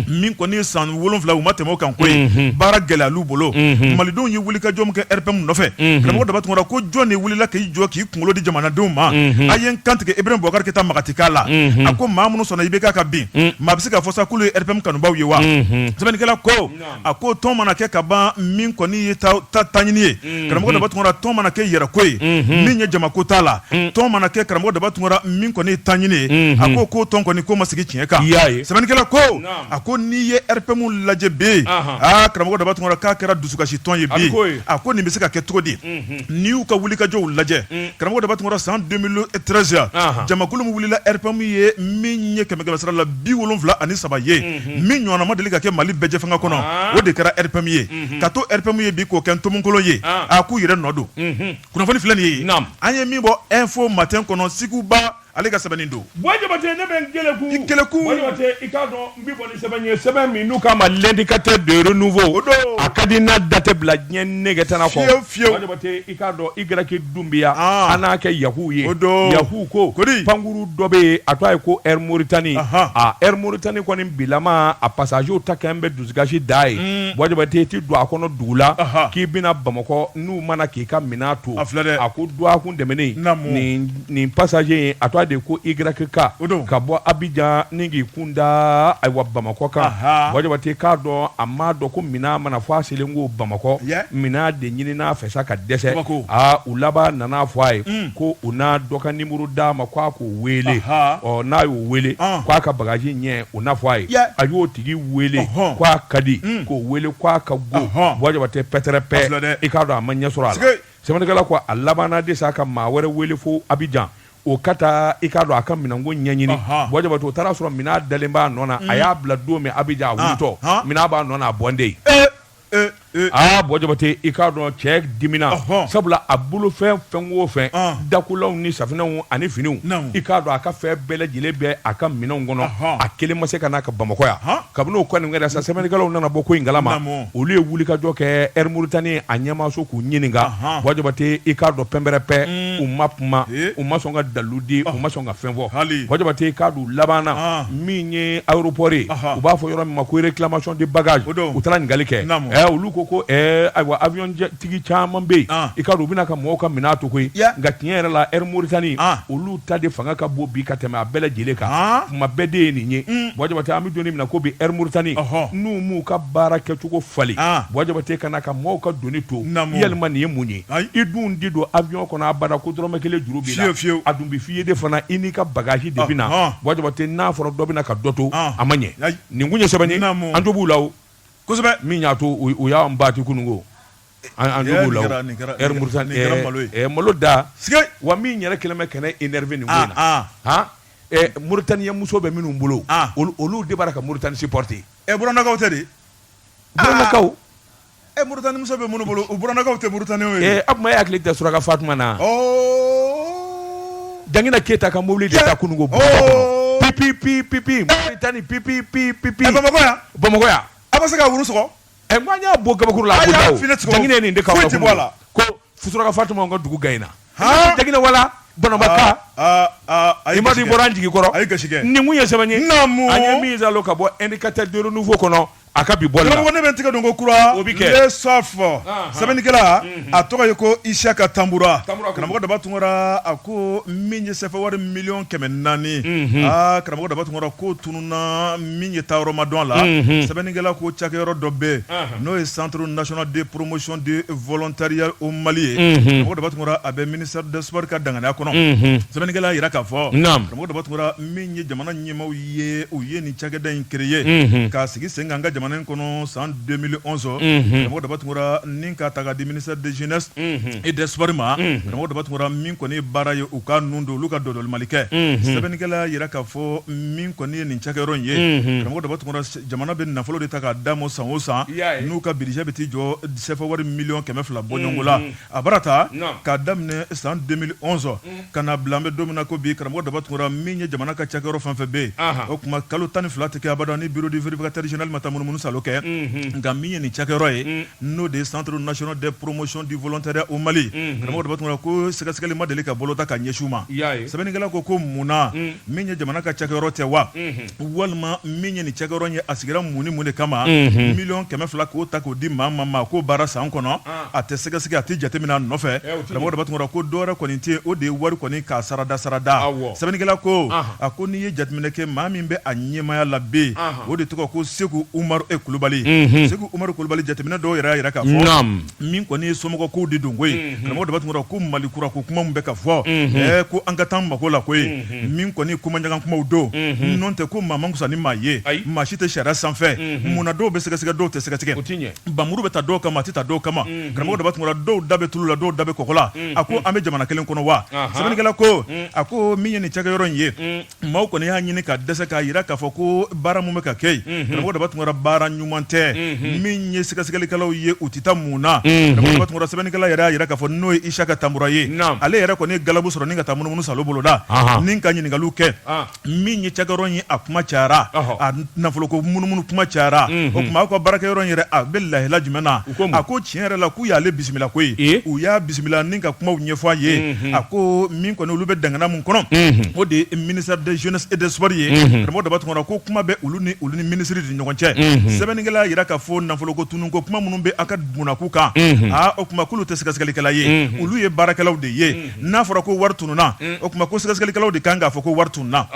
min kɔni ye san wolonwula u ma tɛmɛ o kan koyi baara gɛlɛyal'u bolo malidenw ye wulikajɔ min kɛ rpm nɔfɛ karamɔgɔ daba tunkara ko jɔn de wulila k'i jɔ k'i kunkolo di jamanadenw ma a ye n kantigɛ ibrahim bubakar keyita makanti k'a la a ko maa minnu sɔnna ibk ka bin ma a bɛ se ka fɔ sa k'olu ye rpm kanubaw ye wa sɛbɛnnikɛla ko a ko tɔn mana kɛ ka ban min kɔni ye taɲini ye mm-hmm. karamɔgɔ daba tunkara tɔn mana kɛ yɛrɛko ye mm-hmm. min ye jamako t'a la mm. tɔn mana kɛ karamɔgɔ daba tunkara min kɔni ye taɲini ye mm-hmm. a ko k'o tɔn kɔni k'o ma sigi tiɲɛ kan sɛbɛnnikɛla ko a ko n'i ye rpm lajɛ bi aa karamɔgɔ daba tunkara k'a kɛra dusukasi tɔn ye bi a ko nin bɛ se ka kɛ cogo di n'i y'u ka wulikajɔw lajɛ mm. karamɔgɔ daba tunkara san 2013 jamakulu min wulila rpm ye min ye kɛmɛkɛmɛsara la bi wolonwula ani saba ye min ɲɔgɔnna ma deli ka kɛ mali bɛɛjɛ fanga kɔnɔ o de kɛra rpm ye ka to rpm ye bi k'o kɛ tomokolon ye a k'u yɛrɛ nɔ don kunnafoni filɛ nin ye an ye min bɔ info matin kɔnɔ siku ba ale ka sɛbɛnnen don n'u k'a ma l'indicateur du renouveau a ka di n'a datɛ bila diɲɛ nɛgɛ tan fiye fiye i k'a dɔn Y dunbiya an n'a kɛ yahu ye yahu ko pankuru dɔ bɛ yen a tɔgɔ ye ko Air Mauritanie Air Mauritanie kɔni bilama a passagerw ta kɛlen bɛ dusukasi da ye bɔ jabate i tɛ don a kɔnɔ dugu la k'i bɛna bamakɔ n'u ma na k'i ka minɛn to a ko dɔgɔkun tɛmɛnen nin passager in a tɔgɔ de ko YK ka bɔ abijan ni k'i kunda ayiwa bamakɔ kan bɔ jabate k'a dɔn a ma dɔn ko minɛn ma na fɔ a selen kɔ bamakɔ minɛn de ɲinin'a fɛ sa ka dɛsɛ aa u laban nana fɔ a ye ko u na dɔ ka numéro d'a ma k' a k'o wele ɔ n'a y'o wele k'a ka bagaji ɲɛ u n'a fɔ a ye a y'o tigi wele k' a ka di k'o wele k' a ka go bɔ jabate pɛtɛrɛpɛ i k'a dɔn a ma ɲɛ sɔrɔ a Sɛbɛnnikɛla ko a labanna de sa ka maa wɛrɛ wele fo abijan o ka taa i k'a dɔn a ka minɛnko ɲɛɲini bɔ jabate o taara a sɔrɔ minɛn dalen b'a nɔ na a y'a bila don min abijan a wulitɔ minɛn b'a nɔ na a bɔnden aa bɔ jabate i k'a dɔn cɛ dimina sabula a bolo fɛ fɛn o fɛn dakulaw ni safinɛw ani finiw i k'a dɔn a ka fɛn bɛɛ lajɛlen bɛ a ka minɛn kɔnɔ a kelen ma se ka n'a ka bamakɔ yan kabini o kɔni kɛra sa sɛbɛnnikɛlaw nana bɔ ko in kalama olu ye wulikajɔ kɛ Air Mauritanie a ɲɛmaaso k'u ɲininka bɔ jabate i k'a dɔn pɛnpɛrɛpɛ u ma kuma u ma sɔn ka dalu di u ma sɔn ka fɛn fɔ bɔ jabate i k'a dɔn labanna min ye aéroport ye u b'a fɔ yɔrɔ min ma ko réclamation de bagage u taara ɲininkali kɛ ɛ olu ko ko ayiwa avion tigi caman bɛ yen i k'a dɔn u bɛ na ka mɔgɔw ka minɛn to koyi nka tiɲɛ yɛrɛ la Air Mauritanie olu ta de fanga ka bon bi ka tɛmɛ a bɛɛ lajɛlen kan kuma bɛɛ de ye nin ye bɔ jabate an bɛ don min na ko bi Air Mauritanie n'u m'u ka baara kɛcogo falen bɔ jabate ka na ka maaw ka doni to yalima nin ye mun ye i dun tɛ don avion kɔnɔ abada ko dɔrɔmɛ kelen juru b'i la a dun bɛ f'i ye de fana i n'i ka bagaji de bɛ na bɔ jabate n'a fɔra dɔ bɛ na ka dɔ to a ma ɲɛ nin kun ye sɛbɛn ye an jo b'u la min y'a to u y'an bati kununko malo da wa min yɛrɛ kɛlen bɛ ka ne énervé nin na Mauritanie muso bɛ minnu bolo olu de b'a la ka Mauritanie supporter ɛ burannakaw tɛ de burannakaw e Mauritanie muso bɛ minnu bolo u burannakaw tɛ Mauritanie ye a tuma e hakili tɛ suraka fatuma na jaginɛ keyita ka mobili de ta kununko p p p p p Mauritanie p p p p bamakɔ yan a bɛ se ka wulu sɔrɔ ɛ ko an y'a bɔ kabakuru la a ko daw jaginɛ nin de ka foyi tɛ bɔ a la ko suraka fatuma ka dugu gayina jaginɛ wala banabaka e mali bɔra an jigi kɔrɔ a ye gasi kɛ nin kun ye sɛbɛn ye naamu an ye min zalo ka bɔ indicateur de renouveau kɔnɔ a ka bi bɔli la ne bɛ n tigɛ don ko kura o bɛ kɛ Le Soft sɛbɛnnikɛla a tɔgɔ ye ko Isiyaka Tanbura karamɔgɔ daba tunkara a ko min ye sɛfawari miliyɔn kɛmɛ naani aa karamɔgɔ daba tunkara k'o tunu na min ye taa yɔrɔ ma dɔn a la sɛbɛnnikɛla ko cakɛyɔrɔ dɔ bɛ n'o ye centre national de promotion du volontariat au Mali ye karamɔgɔ Daba Tunkara a bɛ ministère des sports ka danganiya kɔnɔ sɛbɛnnikɛla y'a jira k'a fɔ karamɔgɔ Daba Tunkara min ye jamana ɲɛmaaw ye u ye nin cakɛda in créer k'a sigi sen kan an ka jamana in kɔnɔ san 2011 karamɔgɔ Daba Tunkara ni k'a ta k'a di ministère de jeunesse et des sports ma karamɔgɔ Daba Tunkara min kɔni ye baara ye u ka ninnu don olu ka dɔdɔlimali kɛ sɛbɛnnikɛla y'a jira k'a fɔ min kɔni ye nin cakɛyɔrɔ in ye unhun karamɔgɔ Daba Tunkara jamana be nafolo de ta k'a d'a ma san o san i y'a ye n'u ka budget be t'i jɔ CFA wari million 200 bɔɲɔngo la unhun a bara taa naam k'a daminɛ san 2011 unh ka n'a bila an be don min na ko bi karamɔgɔ Daba Tunkara min ye jamana ka cakɛyɔrɔ fɛn-fɛn be yen anhan o tuma kalo 12 te kɛ abada ni bureau du vérificateur général ma taa munumunu salo kɛ unhun nka min ye nin cakɛyɔrɔ ye unh n'o de ye centre national de promotion du volontariat au Mali unhun, karamɔgɔ Daba Tunkara ko sɛgɛsɛgɛli ma deli ka bolo ta ka ɲɛsin u ma, i y'a ye, sɛbɛnnikɛla ko ko mun na min ye jamana ka cakɛyɔrɔ tɛ wa walima min ye nin cakɛyɔrɔ in ye a sigira mun ni mun de kama miliyɔn kɛmɛ fila k'o ta k'o di maa ma maa k'o baara san kɔnɔ a tɛ sɛgɛsɛgɛ a tɛ jateminɛ a nɔfɛ karamɔgɔ Daba Tunkara ko dɔwɛrɛ kɔni tɛ yen o de ye wari kɔni k'a sarada sarada sɛbɛnnikɛla ko a ko n'i ye jateminɛ kɛ maa min bɛ a ɲɛmaaya la bi o de tɔgɔ ko Seku Umaru e Kulubali Seku Umaru Kulubali jateminɛ dɔw yɛrɛ y'a jira k'a fɔ min kɔni ye somɔgɔkow de don koyi karamɔgɔ Daba Tunkara ko mali kura ko kuma min bɛ ka fɔ ɛɛ ko an ka taa mako la koyi min kɔni komanjan kumaw don n'o tɛ ko maa man kusa ni maa ye maa si tɛ sariya sanfɛ mun na dɔw bɛ sɛgɛsɛgɛ dɔw tɛ sɛgɛsɛgɛ npanmuru bɛ ta dɔw kama a tɛ ta dɔw kama karamɔgɔ Daba Tunkara dɔw da bɛ tulu la dɔw da bɛ kɔgɔ la a ko an bɛ jamana kelen kɔnɔ wa sɛbɛnnikɛla ko a ko min ye nin cakɛyɔrɔ in ye maaw kɔni y'a ɲini ka dɛsɛ k'a jira k'a fɔ ko baara mun bɛ ka kɛ yen karamɔgɔ Daba Tunkara baara ɲuman tɛ min ye sɛgɛsɛgɛlikɛlaw ye u tɛ taa mun na sɛbɛnnikɛla yɛrɛ y'a jira k'a fɔ n'o ye Isaka Tanbura ye ale yɛrɛ kɔni ye galabu sɔrɔ ni ka taa munumunu salo boloda ni ka ɲininkaliw kɛ min ye cakɛyɔrɔ ye a kuma cayara a nafoloko munumunu kuma cayara o tuma aw ka baarakɛyɔrɔ yɛrɛ a bɛ lahila jumɛn na a ko tiɲɛ yɛrɛ la k'u y'ale bisimila koyi u y'a bisimila ni ka kumaw ɲɛfɔ a ye a ko min kɔni olu bɛ dangana min kɔnɔ o de ye ministère de jeunesse et des sports ye karamɔgɔ Daba Tunkara ko kuma bɛ olu ni olu ni ministre de ɲɔgɔn cɛ sɛbɛnnikɛla y'a jira k'a fɔ nafoloko tununko kuma minnu bɛ aw ka bonda kun kan aa o tuma k'olu tɛ sɛgɛsɛgɛlikɛla ye olu ye baarakɛlaw de ye n'a fɔra ko wari tununna o tuma ko sɛgɛsɛgɛlikɛlaw de kan k'a fɔ ko wari tununna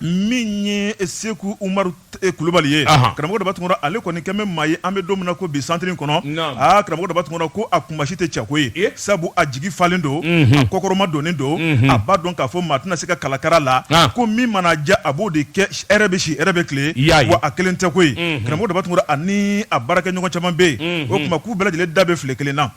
min ye Seku Umaru Kulubali ye karamɔgɔ Daba Tunkara ale kɔni kɛlen bɛ maa ye an bɛ don min na ko bi centre in kɔnɔ aa karamɔgɔ Daba Tunkara ko a kunmasi tɛ cɛ ko ye sabu a jigi falen don a kɔkɔrɔma donnen don a b'a dɔn k'a fɔ maa tɛna se k'a kalakara la ko min mana diya a b'o de kɛ hɛrɛ bɛ si hɛrɛ bɛ tile wa a kelen tɛ koyi karamɔgɔ Daba Tunkara ani a baarakɛ ɲɔgɔn caman bɛ yen o tuma k'u bɛɛ lajɛlen da bɛ filen kelen na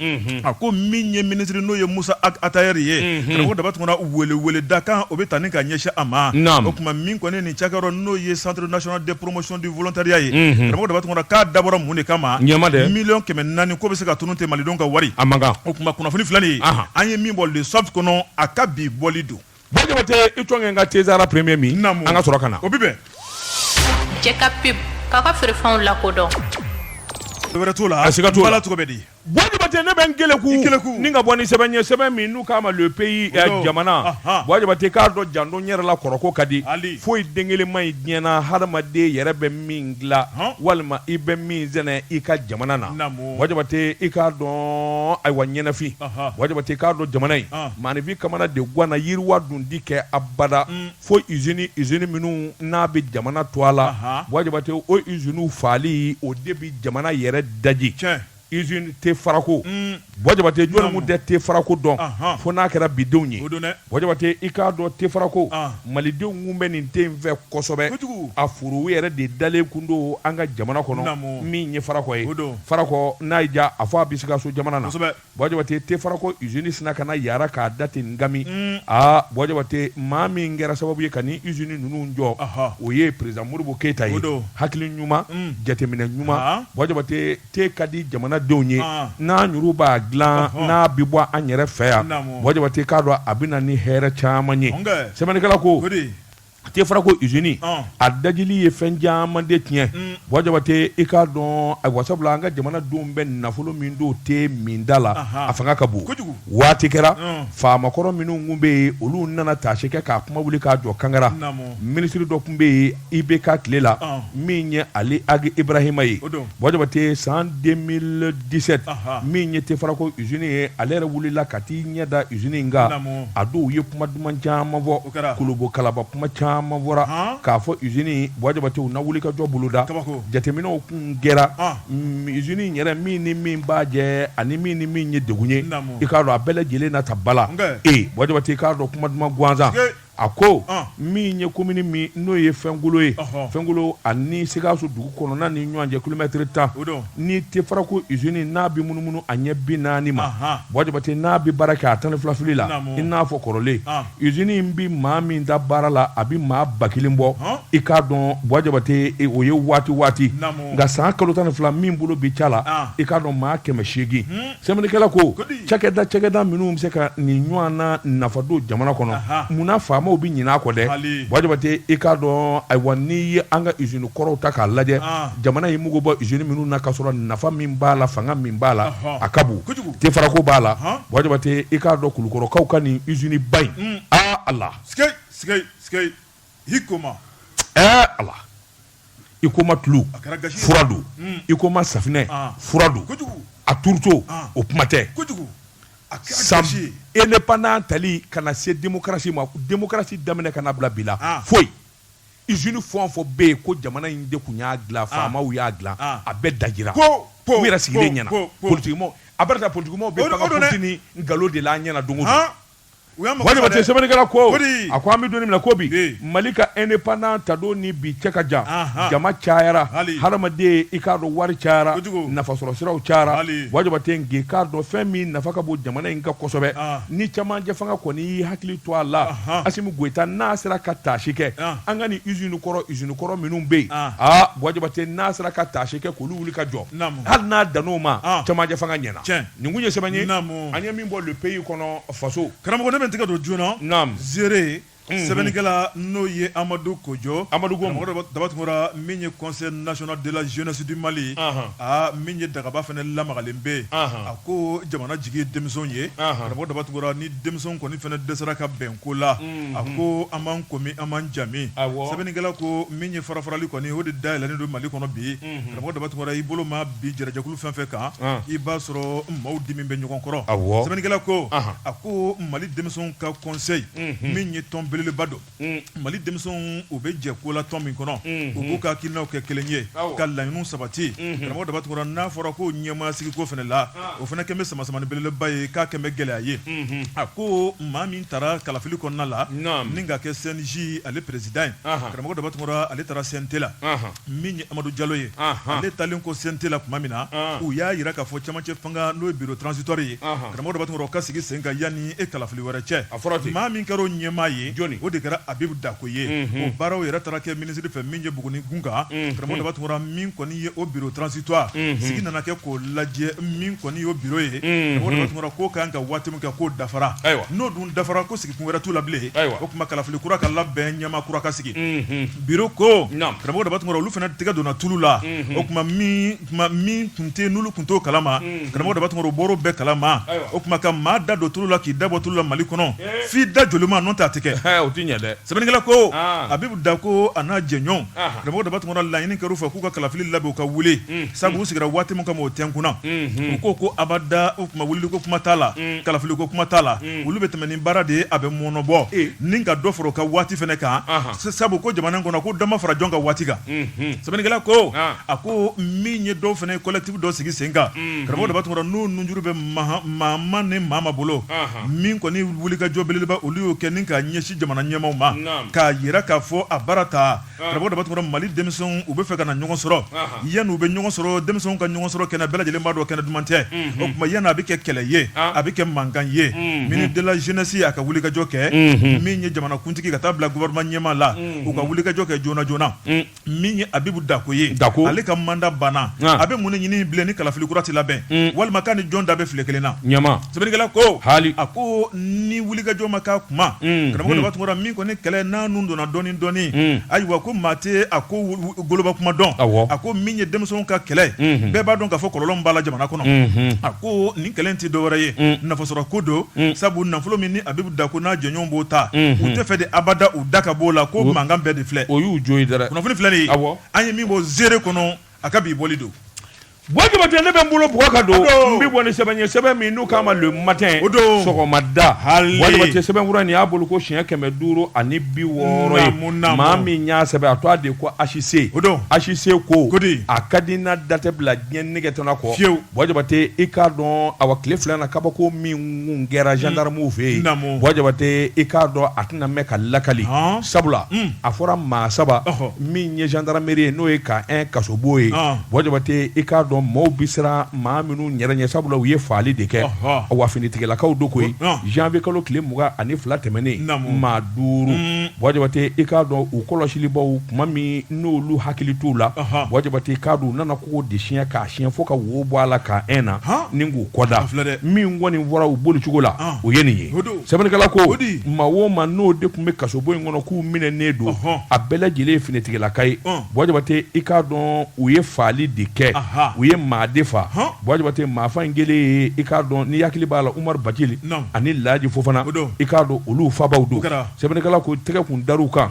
a ko min ye minisiri n'o ye musa ag atayɛri ye karamɔgɔ daba tunkara weleweleda kan o bɛ taa ni ka ɲɛsin a ma o tuma min kɔni nin cakɛyɔrɔ n'o ye centre national de promotion du volontariat ye karamɔgɔ daba tunkara dabɔra mun de kama miliyɔn kɛmɛ naani ko bɛ se ka tunun tɛ malidenw ka wari a o tuma kunnafoni filɛ nin ye an ye min bɔ le soft kɔnɔ a ka bi bɔli don Buwa Jabate i tɔn ka te sahara premier min an ka sɔrɔ ka na o bɛ bɛn cɛ ka pub k'a ka feerefɛnw lakodɔn wɛrɛ t'o la a siga t'o la cogo bɛ di Jabate ne bɛ n keleku ni ka bɔ ni sɛbɛn ye sɛbɛn min n'u k'a ma le pays jamana Buwa Jabate k'a dɔn janto yɛrɛ la kɔrɔko ka di foyi den kelen man ɲi diɲɛ na hadamaden yɛrɛ bɛ min dila walima i bɛ min sɛnɛ i ka jamana na Buwa Jabate i k'a dɔn ayiwa ɲɛnafin Buwa Jabate k'a dɔn jamana in maaninfin kamana de ganna yiriwa dun ti kɛ abada fo usine usine minnu n'a bɛ jamana tɔgɔ la Buwa Jabate o usine faali o de bɛ jamana yɛrɛ daji usine te farako Buwa Jabate jɔn kun tɛ te farako dɔn fo n'a kɛra bidenw ye Buwa Jabate i k'a dɔn te farako malidenw kun bɛ nin te in fɛ kosɛbɛ a foro yɛrɛ de dalen kun don an ka jamana kɔnɔ min ye farako ye farako n'a y'i ja a fɔ a bɛ sikaso jamana na Buwa Jabate te farako usine sinna ka na yaara k'a da ten ngami mm. aa Buwa Jabate maa min kɛra sababu ye ka nin usine ninnu jɔ o ye perezidan modibo keyita ye hakili ɲuman mm. jateminɛ ɲuman Buwa Jabate te ka di jamanadenw ye n'an yɛrɛw b'a dila n'a bɛ bɔ an yɛrɛ fɛ yan Buwa Jabate k'a dɔn a bɛ na ni hɛrɛ caman ye sɛbɛnnikɛla ko A te farako usine a dajili ye fɛn caman de tiɲɛ Buwa Jabate i k'a dɔn ayiwa sabula an ka jamanadenw bɛ nafolo min don te min da la a fanga ka bon waati kɛra faamakɔrɔ minnu kun bɛ yen olu nana taasi kɛ k'a kuma wuli k'a jɔ kangara minisiri dɔ kun bɛ yen IBK tile la min ye ali ag ibrahima ye Buwa Jabate san deux 17 min ye te farako usine ye ale yɛrɛ wulila ka t'i ɲɛ da usine in kan a don u ye kuma duman caman fɔ kolobo kalaba kuma caman fɔra k'a fɔ usine Buwa Jabate u na wulikajɔ boloda jateminɛw kun kɛra usine in yɛrɛ min ni min b'a jɛ ani min ni min ye degun ye i k'a dɔn a bɛɛ lajɛlen na ta bala ee Buwa Jabate i k'a dɔn kuma duman gansan a ko min ye komini min n'o ye fɛnkolo ye fɛnkolo ani sikaso dugu kɔnɔna ni ɲɔgɔn cɛ kilomɛtiri tan ni te farako usine n'a bɛ munumunu a ɲɛ bi naani ma Buwa Jabate n'a bɛ baara kɛ a tan ni fila fili la i n'a fɔ kɔrɔlen usine in bɛ maa min da baara la a bɛ maa ba kelen bɔ i k'a dɔn Buwa Jabate o ye waati waati nka san kalo tan ni fila min bolo bi ca la i k'a dɔn maa kɛmɛ seegin sɛbɛnnikɛla ko cakɛda cakɛda minnu bɛ se ka nin ɲɔgɔn na nafa don jamana kɔnɔ munna faamaw bɛ ɲinɛ a kɔ dɛ Bajabate i k'a dɔn ayiwa n'i ye an ka usine kɔrɔw ta k'a lajɛ jamana ye mugu bɔ usine minnu na ka sɔrɔ nafa min b'a la fanga min b'a la a ka bon dɛ farako b'a la Bajabate i k'a dɔn kulukɔrɔkaw ka nin usine ba in aa Ala HUICOMA tulu fura don HUICOMA safinɛ fura don a tourteau o kuma tɛ sa indépendance tali ka na se démocratie ma démocratie daminɛ ka na bila bi la foyi usine fɛn fɛn bɛ yen ko jamana in de tun y'a dila faamaw y'a dila a bɛɛ dajira u yɛrɛ sigilen ɲɛna politiki a bɛɛ ta politikimaaw bɛ nkalon de la an ɲɛna don te sɛbɛnnikɛla ko a ko an bɛ don min na ko bi mali ka indépendance ta don ni bi cɛ ka jan jama cayara hadamaden i k'a dɔn wari cayara nafa sɔrɔ siraw cayara Bajabate i k'a dɔn fɛn min nafa ka bon jamana in kan kosɛbɛ ni camancɛ fanga kɔni y'i hakili to a la Asimi Goyita n'a sera ka taasi kɛ an ka nin usine kɔrɔ usine kɔrɔ minnu bɛ yen aa Bajabate n'a sera ka taasi kɛ k'olu wuli ka jɔ hali n'a dan'o ma camancɛ fanga ɲɛna Nin kun ye sɛbɛn ye an ye min bɔ Le Pays kɔnɔ faso karamɔgɔ ne bɛ n tɛgɛ don journal Ziré sɛbɛnnikɛla n'o ye amadu kojo Daba Tunkara min ye conseil national de la jeunesse du mali aa min ye dagaba fana lamagalen bɛ yen a ko jamana jigi ye denmisɛnw ye karamɔgɔ Daba Tunkara ni denmisɛnw kɔni fana dɛsɛra ka bɛn ko la a ko an b'an ko min an b'an ja min sɛbɛnnikɛla ko min ye farafarali kɔni o de dayɛlɛnlen don mali kɔnɔ bi karamɔgɔ Daba Tunkara i bolo ma bi jɛrɛ jɛkulu fɛn fɛn kan i b'a sɔrɔ maaw dimin bɛ ɲɔgɔn kɔrɔ sɛbɛnnikɛla ko a ko mali denmisɛnw ka conseil min ye tɔn belebeleba don mali denmisɛnw u bɛ jɛ ko la tɔn min kɔnɔ u b'u ka hakilinaw kɛ kelen ye ka laɲiniw sabati karamɔgɔ Daba Tunkara n'a fɔra ko ɲɛmaa sigiko fana la o fana kɛlen bɛ samasamani belebeleba ye k'a kɛlen bɛ gɛlɛya ye a ko maa min taara kalafili kɔnɔna la ni ka kɛ CNJ ale président ye karamɔgɔ Daba Tunkara ale taara CNT la min ye amadu jalo ye ale taalen kɔ CNT la tuma min na u y'a jira k'a fɔ camancɛ fanga n'o ye bureau transitoire ye karamɔgɔ Daba Tunkara o ka sigi sen kan yanni e kalafili wɛrɛ cɛ maa min kɛra o ɲɛmaa ye o de kɛra Abibu Dakuo ye o baaraw yɛrɛ taara kɛ minisiri fɛ min ye Buguni kun kan karamɔgɔ Daba Tunkara min kɔni ye o bureau transitoire sigi nana kɛ k'o lajɛ min kɔni y'o bureau ye tun k'o ka kan ka waati min kɛ k'o dafara ayiwa n'o dun dafara ko sigi wɛrɛ t'u la bilen o kuma kalafili kura ka labɛn ɲɛmaa kura ka sigi biro ko karamɔgɔ daba tunkara olu fana tɛgɛ donna tulu la o tuma min tun tɛ n'olu tun t'o kalama karamɔgɔ daba tunkara u bɔr'o bɛɛ kalama o tuma ka maa da don tulu la k'i da bɔ tulu la mali kɔnɔ f'i da jolima n'o tɛ a tɛ kɛ sɛbɛnnikɛla ko abibu dako a n'a jɛɲɔgɔn karamɔgɔ daba tunkara laɲini kɛr'u fɛ k'u ka kalafili labɛn u ka wuli sabu u sigira waati min kama o tɛkunna u ko abada o kuma wulili ko kuma t'a la kalafili ko kuma t'a la olu bɛ tɛmɛ ni baara de ye a bɛ mɔnɔbɔ ni ka dɔ fara u ka waati fana kan sabu ko jamana kɔnɔ ko dɔ ma fara jɔn ka waati kan sɛbɛnnikɛla ko a ko min ye dɔw fana ye collectif dɔ sigi sen kan karamɔgɔ daba tunkara n'u nunjuru bɛ mama ni mama bolo min kɔni wulikajɔ belebeleba olu y'o kɛ ni ka ɲɛsin jamana ɲɛmaaw ma k'a yira k'a fɔ a baara ta karamɔgɔ daba tunkara mali denmisɛnw u bɛ fɛ ka na ɲɔgɔn sɔrɔ yanni u bɛ ɲɔgɔn sɔrɔ denmisɛnw ka ɲɔgɔn sɔrɔ kɛnɛ bɛɛ lajɛlen b'a dɔn kɛnɛ duman tɛ o tuma yanni a bɛ kɛ kɛlɛ ye a bɛ kɛ mankan ye ministre de la jeunesse a ka wulikajɔ kɛ min ye jamanakuntigi ka taa bila gouvernement ɲɛmaa la u ka wulikajɔ kɛ joona joona min ye abibu dako ye ale ka manda banna a bɛ mun de ɲini bilen ni kalafili kura ti labɛn walima k'a ni jɔn da bɛ fili kelen na Sɛbɛnnikɛla ko a ko ni wulikajɔ ma k'a kuma karamɔgɔ daba tunkara min kɔni kɛlɛ n'a nun donna dɔɔnin dɔɔnin ayiwa ko maa tɛ a ko goloba kuma dɔn a ko min ye denmisɛnw ka kɛlɛ bɛɛ b'a dɔn k'a fɔ kɔlɔlɔ b'a la jamana kɔnɔ a ko nin kɛlɛ tɛ dɔwɛrɛ ye nafasɔrɔ ko don sabu nafolo min ni abibu dako n'a jɛɲɔgɔnw b'o ta u tɛ fɛ de abada u da ka b'o la ko mankan bɛɛ de filɛ o y'u jo ye kunnafoni filɛ an ye min bɔ zire kɔnɔ a ka bi bɔli don Jabate ne bɛ n bolo bugɔ ka don n bɛ bɔ ni sɛbɛn ye sɛbɛn min n'u k'a ma le matin sɔgɔmada bwa jabate sɛbɛn kura nin y'a bɔli ko siɲɛ kɛmɛ duuru ani bi wɔɔrɔ ye maa min y'a sɛbɛn a tɔgɔ de ko HC HC ko a ka di n'a da tɛ bila diɲɛ nɛgɛgeta kɔ fiyewu bwa jabate i k'a dɔn a wa tile fila na kabako min kun kɛra zandaramuw fɛ yen bwa jabate i k'a dɔn a tɛna mɛɛn ka lakali sabula a fɔra maa saba min ye gendarmerie ye n'o ye camp un kasobo ye bwa jabate i k'a dɔn maaw bɛ siran maa minnu yɛrɛ ɲɛ sabula u ye faali de kɛ a wa finitigilakaw don koyi janvier kalo tile mugan ani fila tɛmɛnen maa duuru bwa jabate i k'a dɔn u kɔlɔsilibaw kuma min n'olu hakili t'u la bwa jabate i k'a dɔn u nana kogo de siɲɛ k'a siɲɛ fo ka wo bɔ a la camp un na ni k'u kɔda min kɔni fɔra u bolicogo la o ye nin ye sɛbɛnnikɛla ko maa o maa n'o de tun bɛ kasobo in kɔnɔ k'u minɛnen don a bɛɛ lajɛlen ye finitigilaka ye bwa jabate i k'a dɔn u ye faali de kɛ u ye maa de faa bwa jabate maafaa in kelen ye i k'a dɔn ni hakili b'a la umaru bajili ani laji fofana i k'a dɔn olu faabaw don sɛbɛnnikɛla ko tɛgɛ kun dar'u kan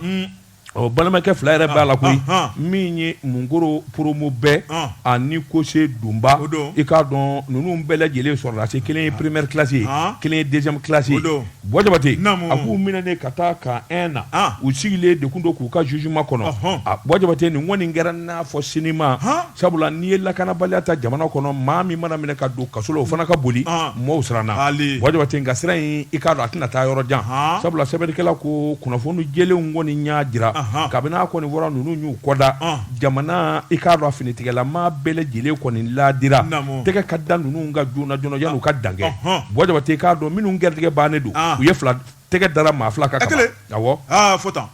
Ɔ balimakɛ fila yɛrɛ b'a la koyi min ye Munkoro poromu bɛɛ ani kose dunba i k'a dɔn ninnu bɛɛ lajɛlen sɔrɔlasi kelen ye première classe ye kelen ye deuxième classe ye Bɔyi Jabate a k'u minɛnen ka taa camp un na u sigilen de kun don k'u ka jugement kɔnɔ a Bɔyi Jabate nin kɔni kɛra n'a fɔ sinima Sabula n'i ye lakanabaliya ta jamana kɔnɔ maa min mana minɛ ka don kaso la o fana ka boli ɔn mɔɔw siranna haali Bɔyi Jabate nka sira in i k'a dɔn a tɛna taa yɔrɔ jan Haan sabula sɛbɛnnikɛla ko kunnafoni jɛlenw kɔni y'a jira Anhan kabini a kɔni fɔra ninnu y'u kɔda ɔn jamana i k'a dɔn a finitigilamaa bɛɛ lajɛlen kɔni laadira naamu tɛgɛ ka da ninnu kan joona joona yanni u ka dan kɛ ɔnhɔn Bɔyi Jabate i k'a dɔn minnu garijɛgɛ bannen don ɔn u ye fila tɛgɛ dara maa fila kan ka ban awɔ aa fo tan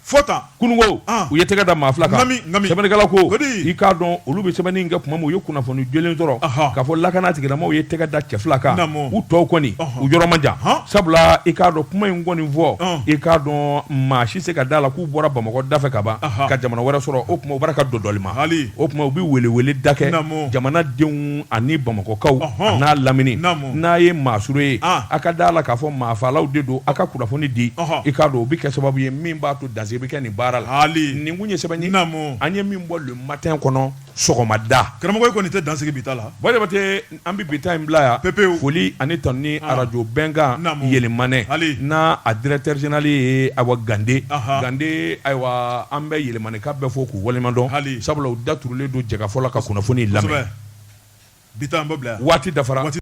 fo tan kunun ko an u ye tɛgɛ da maa fila kan Naamu, naamu. sɛbɛnnikɛla ko O di? i k'a dɔn olu bɛ sɛbɛnni kɛ tuma min u ye kunnafoni jɛlen sɔrɔ Ahan. k'a fɔ lakanatigilamaw ye tɛgɛ da cɛ fila kan Naamu. u tɔw kɔni Ɔhɔn. u yɔrɔ man jan Han. sabula i k'a dɔn kuma in kɔni fɔ Ɔn. i k'a dɔn maa si se ka da la k'u bɔra bamakɔ da fɛ ka ban Ahan. ka jamana wɛrɛ sɔrɔ o tuma u bara ka dodɔli ma Haali. o tuma u bɛ weleweleda kɛ Naamu. jamanadenw ani bamakɔkaw Ɔhɔn. an'a lamini Naamu. n'a ye maa sure ye ah. a ka da la k'a fɔ maafalaw de don a ka kunnafoni di i k'a dɔn o bɛ kɛ sababu ye min b'a to dansigi bɛ kɛ nin baara la nin kun ye sɛbɛn ye an ye min bɔ le matin kɔnɔ sɔgɔmada karamɔgɔ kɔni tɛ dansigi bi ta la Bɔyi Jabate an bɛ bi ta in bila yan pepe foli ani tanuni ah. arajo bɛnkan Yelimane n'a directeur général ye Awa gande gande ayiwa an bɛ Yelimanekaw bɛɛ fo k'u waleɲumandɔn sabula da turulen don Jɛkafɔ la ka kunnafoni lamɛn Bi an bɛ bila waati dafara waati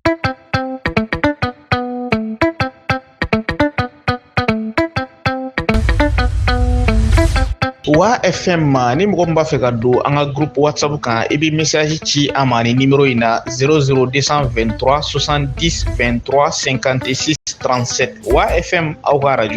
wa e fɛn ma ni mɔgɔ b'a fɛ ka don an ka gp wasabu kan i bɛ misaji ci a ma ni ni in na sz2tura sɔsan2tura sen kante transsɛ wa e fɛn aw ka araj